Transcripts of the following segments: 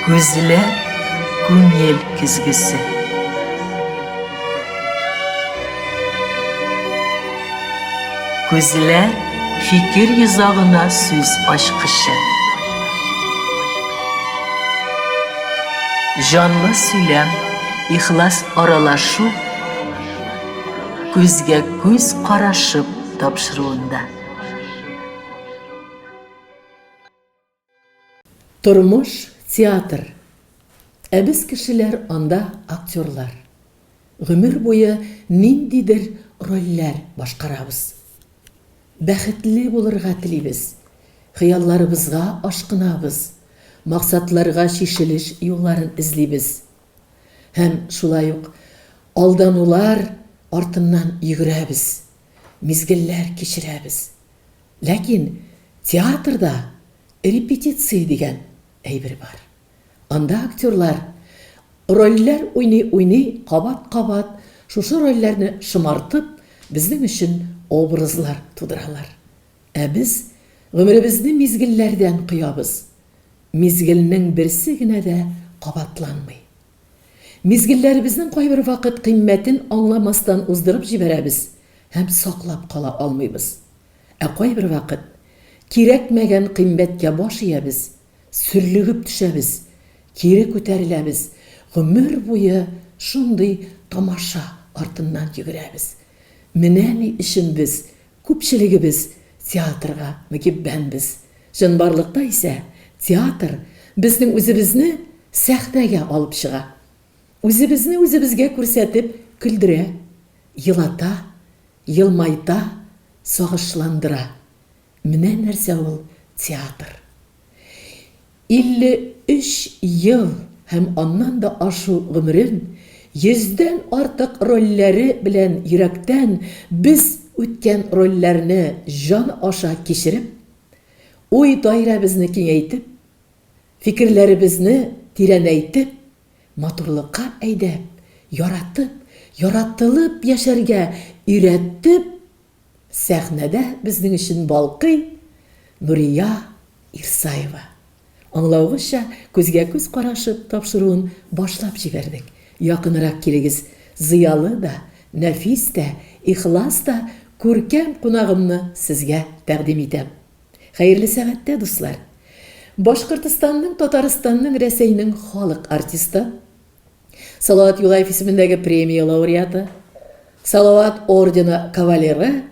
Күзле күңел көзгесе. Күзле фикер йозагына сүз ачкычы. Җанлы сөйләм, ихлас аралашу күзгә күз карашып тапшыруында. Тормыш, театр. Ә без кешеләр анда актерлар. Гомер буе ниндидер рольләр башкарабыз. Бәхетле булырга телибез, хыялларыбызга ашкынабыз, максатларга чишелеш юлларын эзлибез. Һәм шулай ук алданулар артыннан йөгерәбез, мизгелләр кичерәбез. Ләкин театрда репетиция дигән әйбер бар. Анда актерлар рольләр уйный-уйный кабат-кабат шушы рольләрне шомартып, безнең өчен образлар тудыралар. Ә без гомеребезне мизгелләрдән коябыз. Мизгелнең берсе генә дә кабатланмый. Мизгелләребезнең кайбер вакыт кыйммәтен аңламастан уздырып җибәрәбез һәм саклап кала алмыйбыз. Ә кайбер вакыт кирәкмәгән кыйммәткә баш иябез, сөрлегеп төшәбез, кире күтәреләбез, гомер буе шундый тамаша артыннан йөгерәбез. Менә ни өчен без Күпчелегебез театрга мөкиббәнбез. Чынбарлыкта исә театр безнең үзебезне сәхнәгә алып чыга. Үзебезне үзебезгә күрсәтеп көлдерә, елата, елмайта, сагышландыра. Менә нәрсә ул театр. 53 ел һәм аннан да ашу гомерен, йөздән артык рольләре белән йөрәктән без үткән рольләрне җан аша кичереп, уй даирәбезне киңәйтеп, фикерләребезне тирәнәйтеп, матурлыкка әйдәп, яратып, яратылып яшәргә өйрәтеп, Сәхнәдә безнең өчен балкый Нурия Ирсаева. Аңлавыгызча, күзгә-күз карашып тапшыруын башлап җибәрдек. Якынрак килегез, зыялы да, нәфис тә, ихлас та күркәм кунагымны сезгә тәкъдим итәм. Хәерле сәгатьтә, дуслар! Башкортостанның, Татарстанның, Рәсәйнең халык артисты. Салават Юлаев исемендәге премия лауреаты, Салават ордены кавалеры,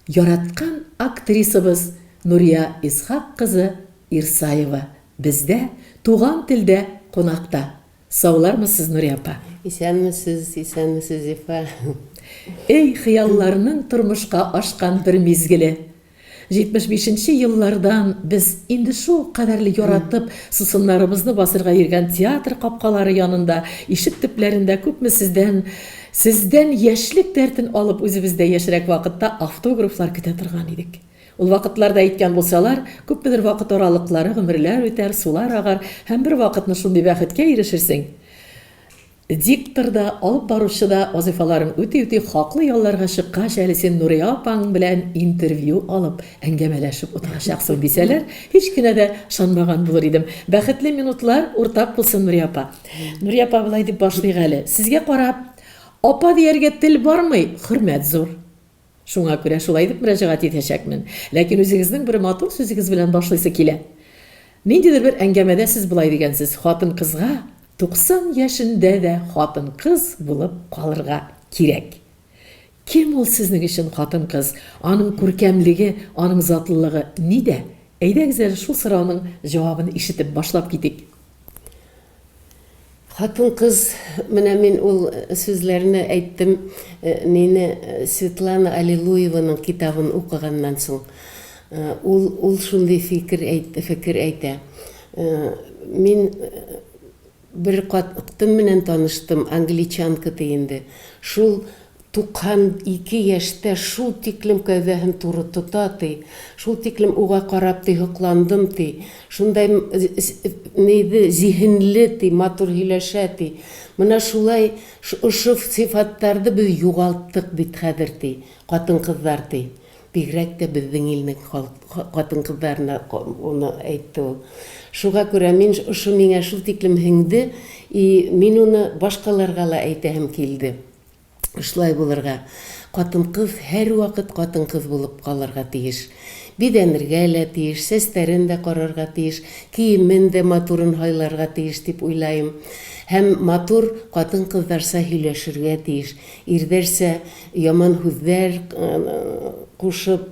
яраткан актрисабыз Нурия Исхак кызы Ирсаева бездә, Туган телдә кунакта. Саулармысыз, Нурия апа? Исәнмесез, исәнмесез, Зифа. Эй, хыялларның тормышка ашкан бер мизгеле! Җитмеш бишенче еллардан без инде шул кадәрле яратып, сусыннарыбызны басырга йөргән театр капкалары янында, ишек төпләрендә күпме сездән, сездән яшьлек дәртен алып үзебез дә яшьрәк вакытта автографлар көтә торган идек. Ул вакытларда әйткән булсалар, күпмедер вакыт аралыклары, гомерләр үтәр, сулар агар һәм бервакытны шундый бәхеткә ирешерсең, Диктор да, алып баручы да вазыйфаларын үти-үти хаклы ялларга чыккач, әле син Нурия апаң белән интервью алып, әңгәмәләшеп утырачаксың, дисәләр, һич кенә дә ышанмаган булыр идем. Бәхетле минутлар уртак булсын, Нурия апа. Нурия апа, болай дип башлыйк әле. Сезгә карап, апа дияргә тел бармый, хөрмәт зур. Шуңа күрә шулай итеп мөрәҗәгать итәчәкмен. Ләкин үзегезнең бер матур сүзегез белән башлыйсы килә. Ниндидер бер әңгәмәдә сез болай дигәнсез, хатын-кызга 90 яшендә дә хатын-кыз булып калырга кирәк. Кем ул сезнең өчен хатын-кыз? Аның күркәмлеге, аның затлылыгы нидә? Әйдәгез әле шул сорауның җавабын ишетеп башлап китик. Хатын-кыз, менә мин ул сүзләрне әйттем, мине Светлана Аллилуеваның китабын укыганнан соң. Ул, ул шундый фикер әйтте, фекер әйтә. Мин бер кат тым менән таныштым, англичанка ди инде. Шул 92 яшьтә шул тиклем кәүдәһен туры тота, ди, шул тиклем уга карап, ди, һокландым, ди, шундай ни ди, зиһенле, ди, матур һөйләшә, ди. Менә шулай ошо сыйфаттарды без югалттык бит хәзер, ди, хатын-кызлар, ди. Бигрәк тә безнең илнең хатын-кызларына моны әйтте ул. Шуга күрә мин ошо миңа шул тиклем һеңде, и мин уны башкаларга ла әйтәһем килде. Шулай булырга. Катын-кыз һәрвакыт катын-кыз булып калырга тиеш. Бизәнергә лә тиеш, сәстәрен дә карарга тиеш, киемен дә матурын һайларга тиеш дип уйлаем. Һәм матур катын-кызларча һөйләшергә тиеш. Ирдәрчә яман һүзләр кушып,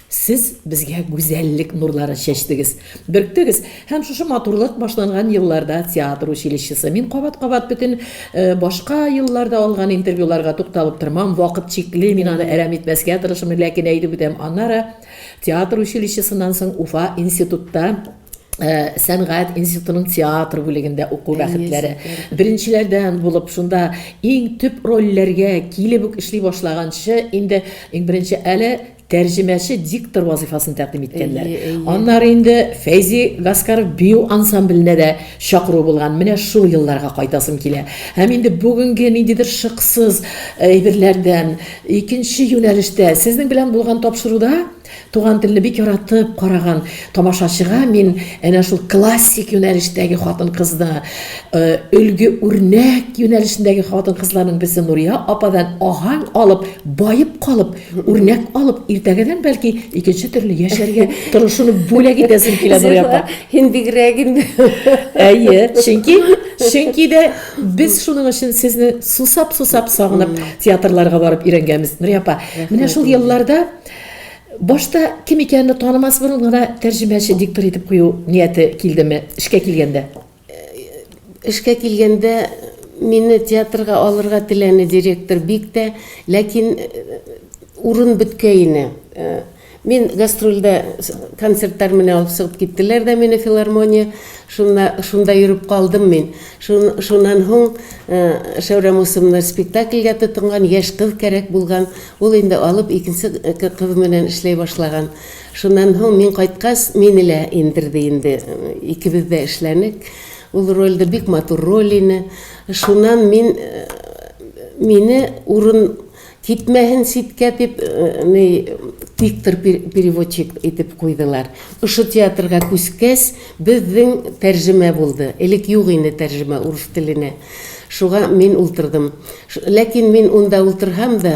Сез безгә гүзәллек нурларын чәчтегез, бөрктегез һәм шушы матурлык башланган елларда театр училищесы, мин кабат-кабат бөтен башка елларда алган интервьюларга тукталып тормам, вакыт чикле, мин аны әрәм итмәскә тырышырмын, ләкин әйтеп үтәм, аннары театр училищесыннан соң Уфа институтта сәнгать институтының театр бүлегендә уку бәхетләре. Беренчеләрдән булып шунда иң төп рольләргә килеп үк эшли башлаганчы инде иң беренче әле Тәрҗемәче диктор вазыйфасын тәкъдим иткәннәр. Әйе, әйе. Аннары инде Фәйзи Гаскаров бию ансамбленә дә чакыру булган. Менә шул елларга кайтасым килә. Һәм инде бүгенге ниндидер шыксыз әйберләрдән, икенче юнәлештә, сезнең белән булган тапшыруда туган телне бик яратып караган тамашачыга мин әнә шул классик юнәлештәге хатын-кызны, өлге, үрнәк юнәлешендәге хатын-кызларның берсе Нурия ападан аһәң алып, баеп калып, Үрнәк алып, иртәгәдән бәлки икенче төрле яшәргә тырышуны бүләк итәсең килә Нурия апа. Һин бигрәк инде. Әйе, чөнки чөнки дә без шуның өчен сезне сусап-сусап сагынып театрларга барып өйрәнгәнбез. Нурия апа, менә шул елларда башта кем икәнне танымас борын гына тәрҗемәче, диктор итеп кую нияте килдеме, эшкә килгәндә? Эшкә килгәндә, мине театрга алырга теләне директор бик тә, ләкин урын беткәине. Мин гастрольдә концертлар менә алып чыгып киттеләр дә мине филармония, шунда шунда йөреп калдым мин. Шун шуннан һуң Шәүрә Мусымны спектакльгә тотынган, яшь кыз кәрәк булган, ул инде алып икенче кыз менән эшләй башлаган. Шуннан һоң мин кайткач, мине лә индерде инде. Икебез дә эшләнек ул рольдә, бик матур роль ине. Шуннан мин, мине урын китмәһен читкә дип, ни, диктор переводчик итеп куйдылар. Ошо театрга күчкәч, безнең тәрҗемә булды. Элек юк ине тәрҗемә урыс теленә. Шуга мин ултырдым. Ләкин мин унда ултырһам да,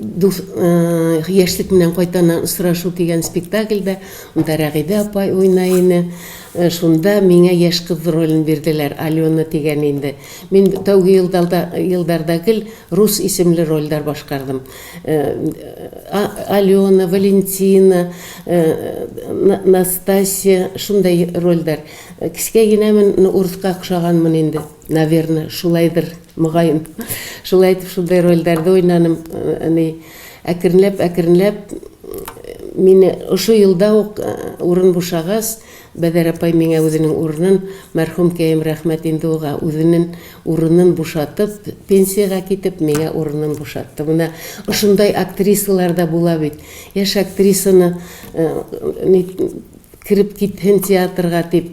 Дус, э, яшьлек менән кайтаннан очрашу дигән спектакльдә анда Рәгыйдә апа уйна ине. Э, шунда миңа яшь кыз ролен бирделәр, Алена дигән инде. Мин тәүге елдарда елдарда гел рус исемле рольдәр башкардым. Э, Алена, Валентина, Настасия шундай рольдәр. Кискә генә мен урыска охшаганмын инде. Наверное, шулайдыр, мөгаен. Шулай итеп шундай рольләрдә уйнаным. Әни әкренләп, әкренләп мине ошо елда ук э, урын бушагач, Бәдәр апай миңа үзенең урынын, мәрхүм кәем рәхмәт инде уга, үзенең урынын бушатып, пенсиягә китеп, миңа урынын бушатты. Менә ошондай актрисалар да була бит. Яшь актрисаны э, кереп китһен театрга дип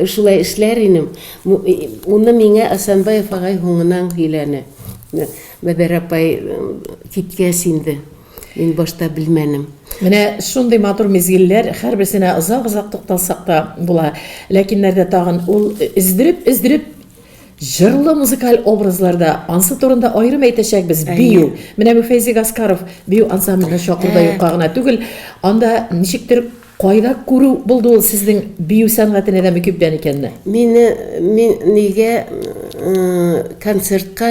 Шулай эшләр инем. Уны миңа Асанбаев агай һуңынан һөйләне. Бәбәр апай киткәч инде, мин башта белмәнем. Менә шундый матур мизгелләр хәрберсенә озак-озак тукталсак та була. Ләкиннәрдә тагын ул өздереп-өздереп җырлы музыкаль образларда, ансы турында аерым әйтәчәкбез, бию. Менә бу Фәйзи Гаскаров бию ансамбленә чакыру да юкка гына түгел. Анда ничектер. Кайда күрү булды ул сезнең бию сәнгатенә дә мөкиббән икәнне? Мине мин нигә концертка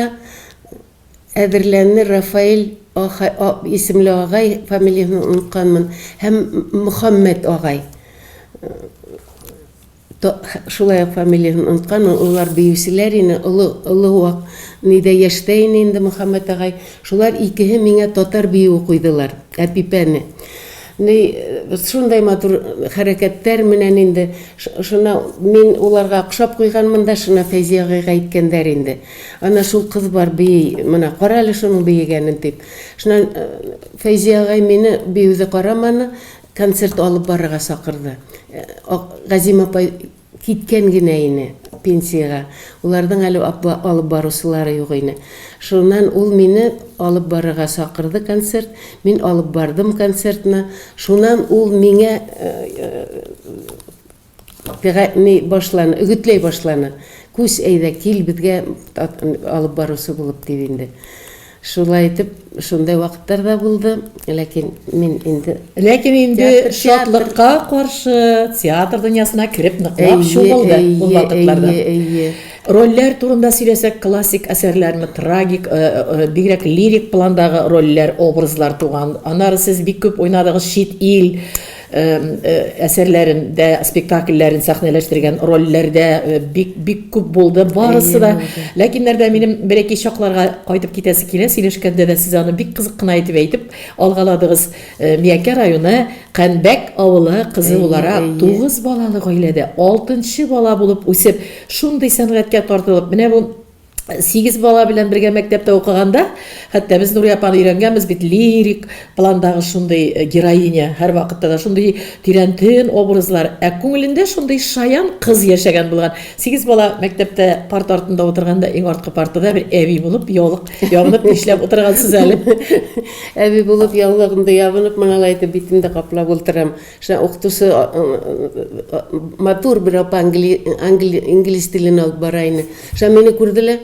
әзерләнне Рафаэль а исемле агай, фамилиясен онытканмын, һәм Мөхәммәт агай. То, шулай ук фамилияһен оныткан, ул, улар биючеләр ине, олы, олы вак нидә яшьтә ине инде Мөхәммәт агай. Шулар икеһе миңа татар биюе куйдылар, Әпипәне. Ни, шундай матур хәрәкәттәр менән инде, ш, шуна мин уларга охшап куйганмын да, шуна Фәйзия агыйга әйткәннәр инде, Ана, шул кыз бар, бии, менә кара әле шуның биегәнен, дип. Шуннан Фәйзия агай мине биюде караманы, Концерт алып барырга чакырды. Газим апай киткән генә ине пенсиягә. Уларның әле алып баручылары юк ине. Шуннан ул мине алып барырга чакырды концерт. Мин алып бардым концертны. Шуннан ул миңа Пегатьни башлана, үгетләй башлана. Күс, әйдә, кил безгә алып баручы булып, дип инде. Шулай итеп, шундай вакытлар да булды, ләкин мин инде. Ләкин инде шатлыкка каршы, театр дөньясына кереп ныклап чумылды ул вакытларда. Әйе, әйе, әйе. Рольләр турында сөйләсәк, классик әсәрләрме, трагик, э, э, э, бигрәк лирик пландагы рольләр, образлар туган. Аннары сез бик күп уйнадыгыз чит ил, әсәрләрен дә спектакльләрен сәхнәләштергән рольләрдә бик бик күп булды барысы да ләкиннәрдә минем бер ике чакларга кайтып китәсе килә сөйләшкәндә дә сез аны бик кызык кына итеп әйтеп алгаладыгыз миякә районы кәнбәк авылы кызы буларак тугыз балалы гаиләдә алтынчы бала булып үсеп шундый сәнгатькә тартылып менә бу Сигез бала белән бергә мәктәптә укыганда, хәтта без Нурия апаны өйрәнгәнбез бит лирик пландагы шундый э, героиня, һәр вакытта да шундый тирән тын образлар, ә күңелендә шундый шаян кыз яшәгән булган. Сигез бала мәктәптә парт артында утырганда иң арткы партада бер әби булып яулык ябынып эшләп утыргансыз әле. Әби булып яулыгымды ябынып, моналай итеп битемдә каплап утырам. Шунда укытучысы матур бер апа инглиз телен алып бара иде. Шунда мине күрделәр,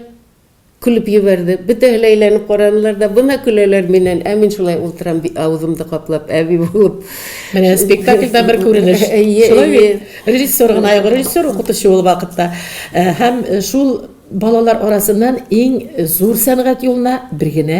көлеп җибәрде. Бөтәһе лә әйләнеп карадылар да, бына көләләр миннән, ә мин шулай утырам, авызымны каплап, әби булып. Менә спектакльдә бер күренеш. Шулай бит. Режиссер гына юк, режиссер укытучы ул вакытта. Һәм шул балалар арасыннан иң зур сәнгать юлына бер генә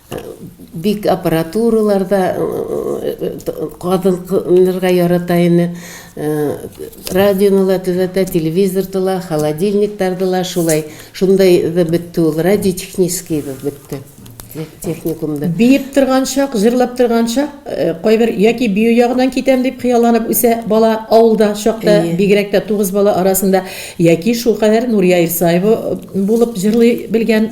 Бик аппаратуралар да кадынырга ярата ине. Радионы ла төзәтә, телевизор тыла, холодильник тардыла, шулай. Шундай да бетте ул, радиотехнический да бетте техникумда. Биеп торган чак, җырлап торган чак, э, кайбер яки бию ягыннан китәм дип хыялланып үсә бала авылда чакта, бигрәк тә тугыз бала арасында яки шул кадәр Нурия Исаева э, булып җырлый белгән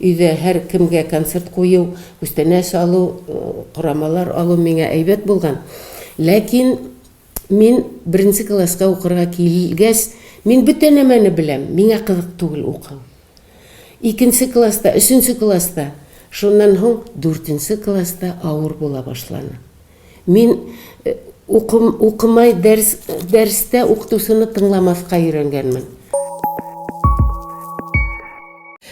Өйдә һәр кемгә концерт кую, күстәнәч алу, корамалар алу миңа әйбәт булган. Ләкин мин беренче класска укырга килгәч, мин бөтә нәмәне беләм, миңа кызык түгел укыу. Икенче класста, өченче класста, шуннан һуң дүртенче класста авыр була башланы. Мин укымай дәрс дәрстә укытучыны тыңламаска өйрәнгәнмен.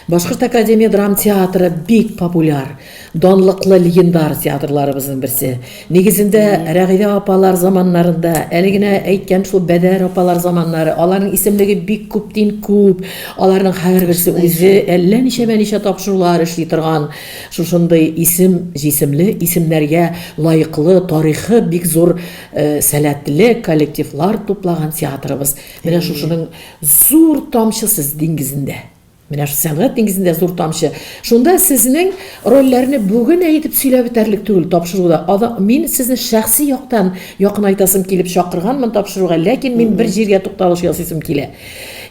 Башкорт академия драм театры бик популяр, данлыклы легендар театрларыбызның берсе. Нигезендә Рәгыйдә апалар заманнарында, әле генә әйткән шул Бәдәр апалар заманнары, аларның исемлеге бик күптин күп, аларның һәрберсе үзе әллә ничәмә ничә тапшырулар эшли торган. Шушындый исем, җисемле исемнәргә лаеклы тарихы бик зур сәләтле коллективлар туплаган театрыбыз менә шушының зур тамчы сез диңгезендә. Менә шул сәнгать диңгезендә зур тамчы. Шунда сезнең рольләрне бүген әйтеп сөйләп бетәрлек түгел тапшыруда. Ада, мин сезне шәхси яктан якынайтасым килеп чакырганмын тапшыруга, ләкин мин бер җиргә тукталыш ясыйсым килә.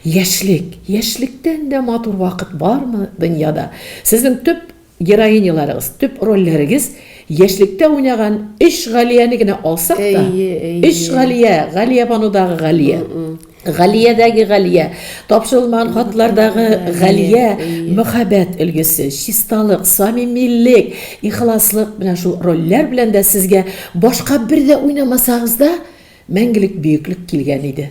Яшьлек, яшьлектән дә матур вакыт бармы дөньяда? Сезнең төп героиняларыгыз, төп рольләрегез яшьлектә уйнаган өч Галияне генә алсак та, Әйе, әйе. өч Галия, Галиябанудагы Галия, Галиядәге Галия, Тапшырылмаган хатлардагы Галия, Әйе. мөхәббәт өлгесе, чисталык, самимилек, ихласлык, менә шул рольләр белән дә сезгә башка бер дә уйнамасагыз да, мәңгелек бөеклек килгән иде.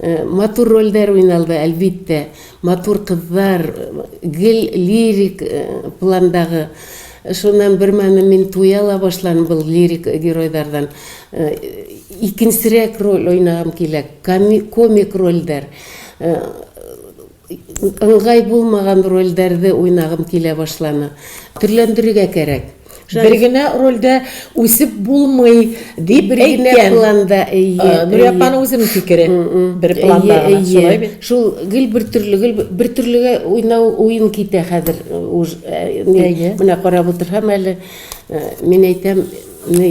Матур рольдәр уйналды, әлбиттә. Матур кызлар, гел лирик пландагы. Шуннан бермәлне мин туя ла башлан был лирик геройдардан. Икенчерәк роль уйнагым килә, комик рольдәр. Ыңгай булмаган рольдәрде уйнагым килә башланы. Төрләндерергә кәрәк. Бер генә рольдә үсеп булмый дип әйткән. Бер генә планда, әйе. Нурия апаның үзенең фикере. Бер планда гына, шулай бит? Шул, гел бер төрле, гел бер төрлегә уйнау уен китә хәзер. Әйе. Менә карап утырһам әле, мин әйтәм, ни,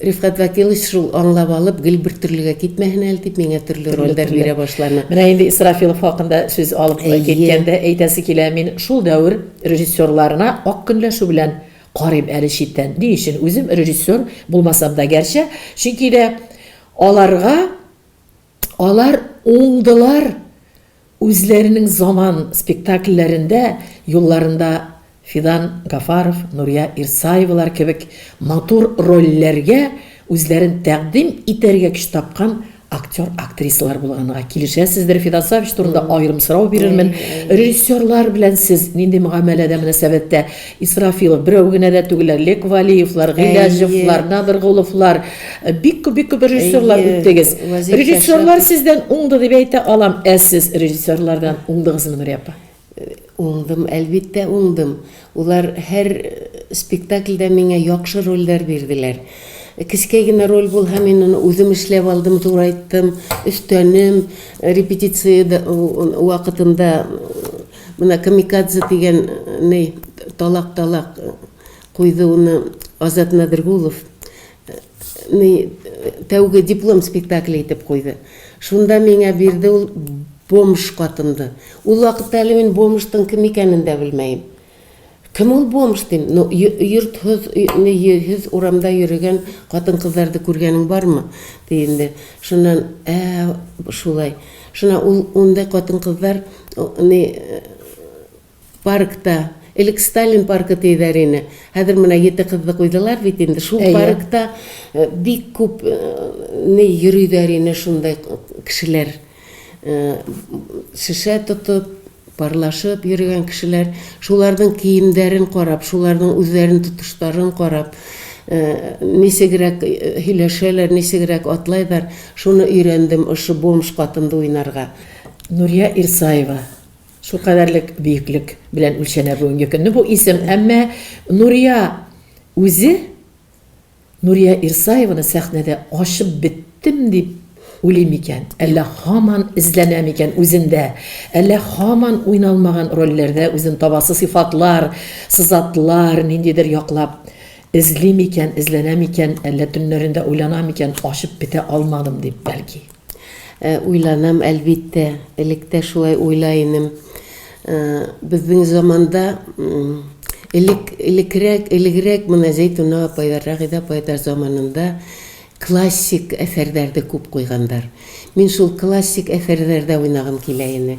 Рифкать Вәкилович, шул аңлап алып, гел бер төрлегә китмәһен әле дип, миңа төрле рольләр бирә башлана. Менә инде Исрафилов хакында сүз алып киткәндә әйтәсе килә, мин шул дәвер режиссерларына ак көнләшү белән карыйм әле читтән. Ни өчен? Үзем режиссер булмасам да гәрчә, чөнки дә аларга, Алар уңдылар, үзләренең заман спектакльләрендә юлларында Фидан Гафаров, Нурия Ирсаевалар кебек матур рольләргә үзләрен тәкъдим итәргә көч тапкан актер-актрисалар булганга килешәсездер, Фидан Сафич турында аерым сорау бирермен, режиссерлар белән сез нинди мөгамәләдә, мөнәсәбәттә? Исрафилов, берәү генә дә түгел, Лек Валиевлар, Гыйләҗевлар, Надыргуловлар, э, бик күп, бик күп режиссерлар Әйе, үттегез. Вәзир Режиссерлар Шәшәтов. сездән уңды дип әйтә алам, ә сез режиссерлардан уңдыгызмы, Нурия апа? Уңдым, әлбиттә, уңдым. Улар һәр э, спектакльдә миңа яхшы рольләр бирделәр. Кечкәй генә роль булһа, мин аны үзем эшләп алдым, турайттым, өстәнем, репетиция да- у- у- вакытында Менә Камикадзе дигән ни талак талак куйды уны Азат Надргулов ни тәүге диплом спектакле итеп куйды. Шунда миңа бирде ул бомж катымды. Ул вакытта әле мин бомжтың кем икәнен дә белмәем. Кем ул бомж, дим. Ну, йортһыз, өйһез урамда йөрегән хатын-кызларды күргәнең бармы? ди инде. Шуннан, ә, шулай. Шуна ул ундай хатын-кызлар ни паркта Элек Сталин паркы тиедәр ине. Хәзер менә ете кызны куйдылар бит инде. Шул паркта э, бик күп э, ни йөридәр ине шундай кешеләр. Э, шешә тотып, Парлашып йөргән кешеләр, шуларның киемнәрен карап, шуларның үзләрен тотышларын карап, ничегрәк һөйләшәләр, ничегрәк атлайлар, шуны өйрәндем ошо бомж катында уйнарга. Нурия Ирсаева, шулкадәрлек бөеклек белән үлчәнә бүгенге көнне бу исем. Әмма Нурия үзе Нурия Ирсаеваны сәхнәдә ачып беттем дип уйлыйм икән, әллә һаман эзләнә микән үзендә, әллә һаман уйналмаган рольләрдә үзен табасы сыйфатлар, сызатлар ниндидер яклап эзли микән, эзләнә микән, әллә төннәрендә уйлана микән, ачып бетә алмадым дип, бәлки. Ә, уйланам, әлбиттә. Элек тә шулай уйлай инем. Ә, безнең заманда, м, элек, элекрәк, элегрәк менә Зәйтүнә апайлар, Рәгыйдә апайлар заманында классик әсәрләрне күп куйганнар. Мин шул классик әсәрләрдә уйнагым килә ине.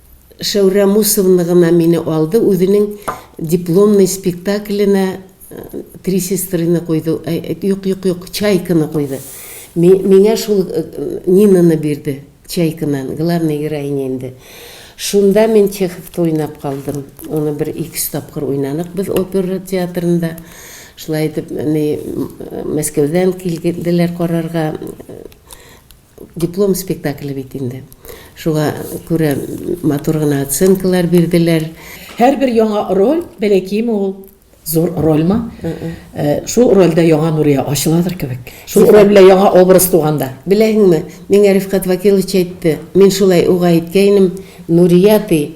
Шәүрә Мусовна гына мине алды, үзенең дипломный спектакленә Три сестрыны куйды, юк, юк, юк, Чайканы куйды. Миңа шул Нинаны бирде, Чайканан, главный героиня инде. Шунда мин Чеховты уйнап калдым. Аны бер икесе тапкыр уйнадык без опера театрында. Шулай итеп, Мәскәүдән килделәр карарга. Диплом спектакле бит инде. Шуңа күрә матур гына оценкалар бирделәр. Һәрбер яңа роль, бәләкиме ул, зур рольмы, шул рольдә яңа Нурия ачыладыр кебек. Шул роль белән яңа образ туганда. Беләһеңме, миңа Рифкат Вакилович әйтте, мин шулай уга әйткәйнем, Нурия, ди,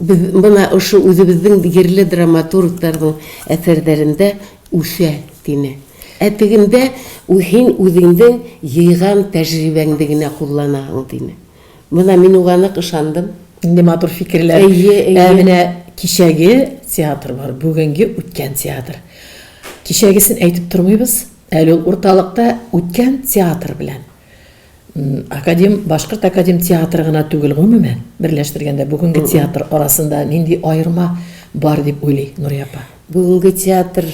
Без менә ошо үзебезнең җирле драматургларның әсәрләрендә үсә, дине. Ә тегендә син үзеңнең җыйган тәҗрибәңне генә кулланаһың, дине. Менә мин уга нык ышандым. Нинди матур фикерләр. Әйе, әйе. Ә менә кичәге театр бар, бүгенге үткән театр. Кичәгесен әйтеп тормыйбыз, әле ул урталыкта, үткән театр белән. Академ, Башкорт академ театры гына түгел, гомумән, берләштергәндә, бүгенге театр арасында нинди аерма бар дип уйлый Нурия апа? Бүгенге театр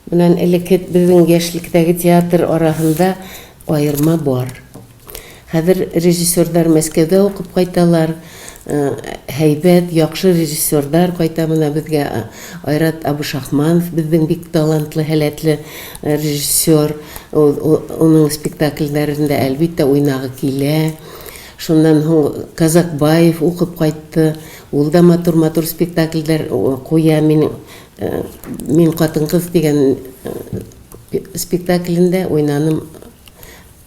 белән элекке безнең яшьлектәге театр арасында аерма бар. Хәзер режиссерлар Мәскәүдә укып кайталар. һәйбәт, яхшы режиссерлар кайта менә безгә. Айрат Абушахманов безнең бик талантлы, һәләтле режиссер. Уның спектакльләрендә, әлбиттә, уйнагы килә. Шуннан һуң Казакбаев укып кайтты. Ул да матур-матур спектакльләр куя. Мин мин хатын-кыз дигән спектаклендә уйнаным.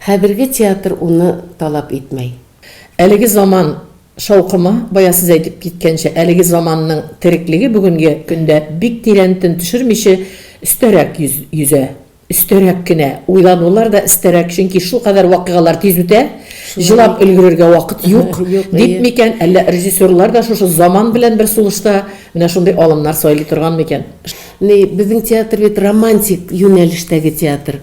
Хәзерге театр уны талап итмәй. Әлеге заман шаукымы, бая сез әйтеп киткәнчә, әлеге заманның тереклеге бүгенге көндә бик тирән төн төшермиче, өстәрәк йөзә. Өстәрәк кенә. Уйланулар да эстәрәк, чөнки шулкадәр вакыйгалар тиз үтә, җылап өлгерергә вакыт юк, дип микән, әллә режиссерлар да шушы заман белән бер сулышта менә шундый алымнар сайлый торган микән? Ни, безнең театр бит романтик юнәлештәге театр.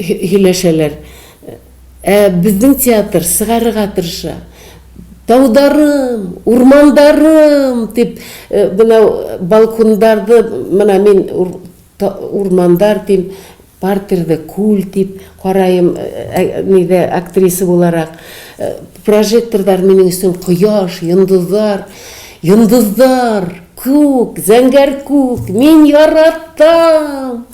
һөйләшәләр. Ә безнең театр чыгарырга тырыша. Таударым, урмандарым! дип, менә балкондагы, менә мин урмандар дим, партерда күл дип караем, нидә, актриса буларак. Прожекторлар минем өстен кояш, йолдызлар, йолдызлар, күк, зәңгәр күк, мин яратам!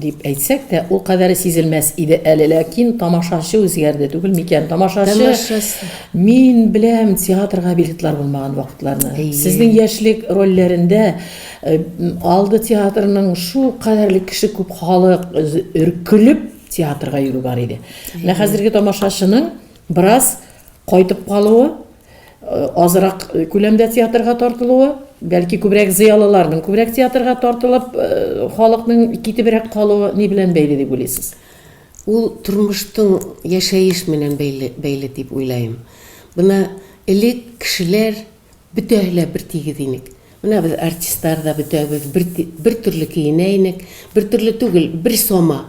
Дип әйтсәк тә, ул кадәре сизелмәс иде әле, ләкин тамашачы үзгәрде түгел микән? Тамашачы, мин беләм театрга билетлар булмаган вакытларны. Сезнең яшьлек рольләрендә э, алды театрының шу кадәрле кеше күп халык өркелеп театрга йөрү бар иде. Менә хәзерге тамашачының бераз кайтып калуы азрак күләмдә театрга тартылуы, бәлки күбрәк зыялыларның күбрәк театрга тартылып, халыкның китебрәк калуы ни белән бәйле дип уйлыйсыз? Ул тормыштың яшәеш менән бәйле, бәйле дип уйлаем. Менә элек кешеләр бөтәһе лә бертигез инек. Менә без артистлар да бөтәбез бер, бертөрле киенә инек, бертөрле түгел, бер сама.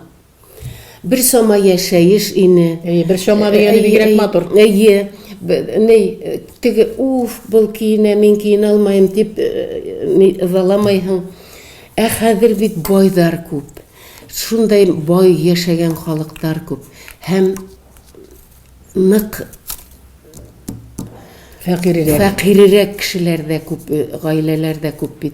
Бер чама яшәеш ине. Әйе, бер чама дигәне бигрәк матур. Әйе. Ней, теге уф, был киенә, мин киенә алмаем дип ыдаламайһың. Ә хәзер бит байлар күп. Шундай бай яшәгән халыклар күп. Һәм нык фәкыйрерәк. Фәкыйрерәк кешеләр дә күп, гаиләләр дә күп бит.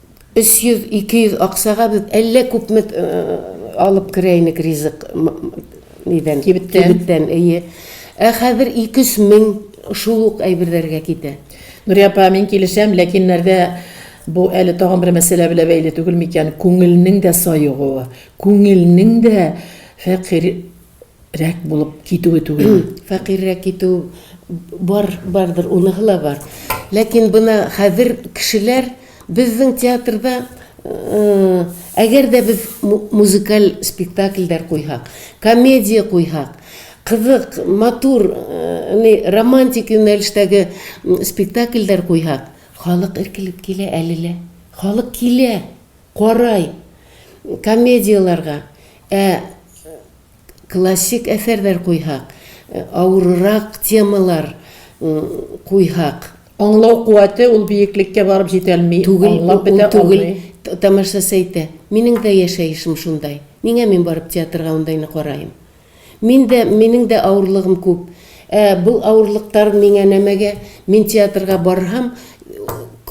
300, 200 акчага без әллә күпме алып керә инек ризык нидән, кибеттән. Кибеттән, әйе. Ә хәзер ике-өч мең шул ук әйберләргә китә. Нурия апа, мин килешәм, ләкин нәрдә бу әле тагын бер мәсьәлә белән бәйле түгелме икән, күңелнең дә саегуы, күңелнең дә фәкыйрь, рәк булып китүе түгел. Фәкыйрьрәк китү бар, бардыр, уныһы ла бар. Ләкин бына хәзер кешеләр безнең театрда э, әгәр дә без музыкаль спектакльдәр куйһак, комедия куйһак, кызык, матур, э, романтик юнәлештәге спектакльдәр куйһак, халык эркелеп килә әле лә. Халык килә. Карай, комедияләргә, ә классик әсәрләр куйһак, авырырак темалар куйһак. Аңлау куәте ул биеклеккә барып җитәлми, аңлап бетә алмый. Түгел, тамашачы әйтә, минең дә яшәешем шундай, нигә мин барып театрга ундайны караем? Мин дә, минең дә авырлыгым күп. Ә бу авырлыктар миңа нәмәгә? Мин театрга барһам,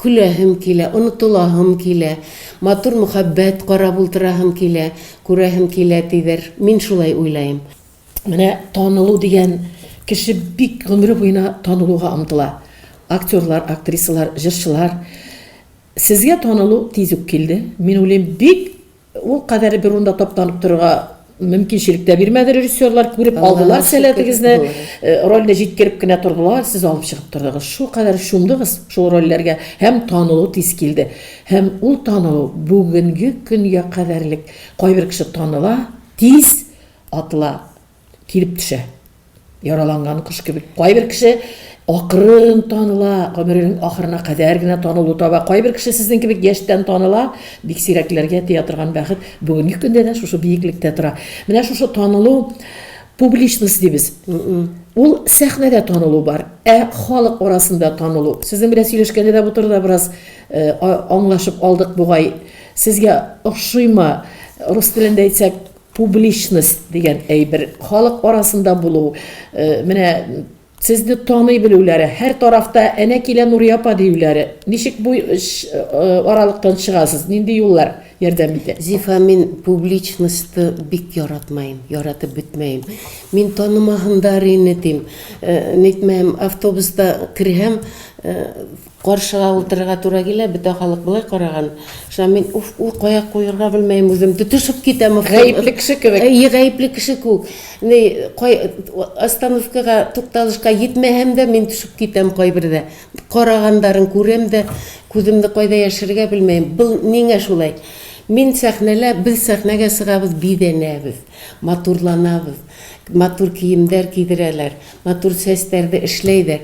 көләһем килә, онытылаһым килә, матур мөхәббәт карап ултыраһым килә, күрәһем килә, дидер. Мин шулай уйлаем. Менә танылу дигән кеше бик гомере буена танылуга омтыла. Актерлар, актрисалар, җырчылар. Сезгә танылу тиз үк килде. Мин уйлыйм, бик Ул кадәр бер урында таптанып торырга мөмкинчелек тә бирмәде режиссерлар, күреп алдылар сәләтегезне, рольне җиткереп кенә тордылар, сез алып чыгып тордыгыз. Шул кадәр чумдыгыз шул рольләргә һәм танылу тиз килде. Һәм ул танылу бүгенге көнгә кадәрлек. Кайбер кеше таныла, тиз атыла. Килеп төшә. Яраланган кош кебек. Кайбер кеше акрын таныла, гомеренең ахырына кадәр генә танылу таба. Кайбер кеше сезнең кебек яшьтән таныла. Бик сирәкләргә тия торган бәхет бүгенге көндә дә шушы биеклектә тора. Менә шушы танылу публичность дибез. Ул сәхнәдә танылу бар, ә халык арасында танылу. Сезнең белән сөйләшкәндә дә бу турыда бераз э, аңлашып алдык бугай. Сезгә ошыймы? Рус телендә әйтсәк, Публичность дигән әйбер, халык арасында булу, менә сезне таный белүләре, һәр тарафта әнә килә Нурия апа диюләре. Ничек бу аралыктан чыгасыз? Нинди юллар ярдәм итә? Зифа, мин публичностьты бик яратмыйм, яратып бетмәем. Мин танымаһындар ине дим. Нитмәһәм, автобуста керһәм, Каршыга утырырга туры килә, бөтә халык болай караган, шуннан мин, уф, ул кая куерга белмәем үзем, тотышып китәм. Гаепле кеше кебек. Әйе, гаепле кеше күк. Ни, кай, остановкага, тукталышка йитмәһәм дә, мин төшеп китәм кайбердә. Карагандарын күрәм дә, күземне кайда яшерергә белмәем. Был нигә шулай? Мин сәхнәлә, без сәхнәгә чыгабыз, бизәнәбез, матурланабыз, матур киемдәр кидерәләр, матур чәчтәрде эшләйдәр.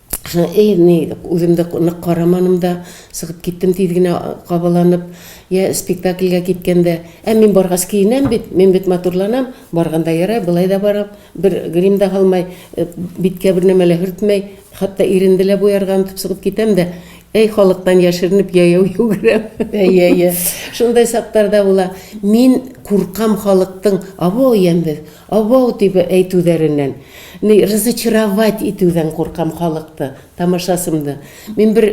Шуңа эй, ни, үзем дә нык карамадым да, чыгып киттем тиз генә кабаланып. Я спектакльгә киткәндә, ә мин баргач киенәм бит, мин бит матурланам, барганда ярай, болай да барам, бер грим да һалмай, биткә бер нәмә лә һөртмәй, хәтта иренде лә буярга онытып чыгып китәм дә, әй халыктан яшеренеп яяу йөгерәм. Әйе, әйе. Шундай чаклар да була. Мин куркам халыктың, Абау, ямьбез, абау, дип әйтүләреннән. Ни разочаровать итүдән куркам халыкты, тамашасымды. Мин бер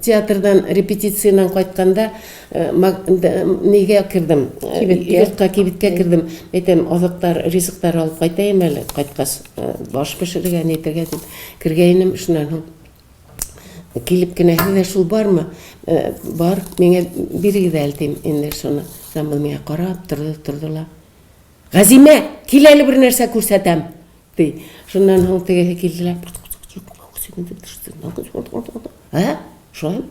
театрдан репетициянән кайтканда нигә кердем? Кибеткә. Йортка кибеткә кердем. Әйтәм, азыктар, ризыктар алып кайтаем әле, кайткач баш пешерергә, ни итәргә дип кергәйнем, шуннан соң килеп кенә, Сездә шул бармы? Бар, миңа бирегез әле, дим, инде шуны. Шуннан миңа карап торды, торды ла. Газимә, кил әле бер нәрсә күрсәтәм, ди. Шуннан соң тегесе килделәр. Ә? Шулай.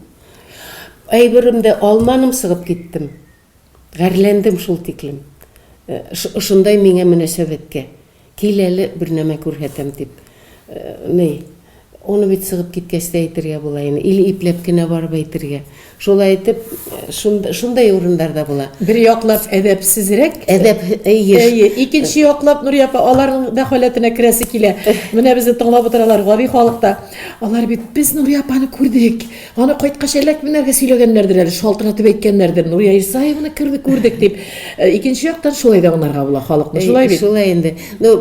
Әйберемдә алманым сыгып киттем. Гәрләндем шул тиклем. Э, ошындай миңа мөнәсәбәткә. Кил әле бер нәмә күрһәтәм дип. Э, ни, Аны бит сыгып киткәч тә әйтергә була ин, или ипләп кенә барып әйтергә. Шулай итеп, шунда, шундай урыннар да була. Бер яклап әдәпсезрәк. Әдәп, әйе. Әйе, икенче яклап, Нурия апа, аларның да халәтенә керәсе килә. Менә безне тыңлап утыралар, гади халык та. Алар бит, без Нурия апаны күрдек. Аны кайткач әллә кемнәргә сөйләгәннәрдер әле, шалтыратып әйткәннәрдер, Нурия Исаеваны керде, күрдек дип. Э, икенче яктан шулай да аңларга була халыкны, шулай бит? Шулай инде. Ну,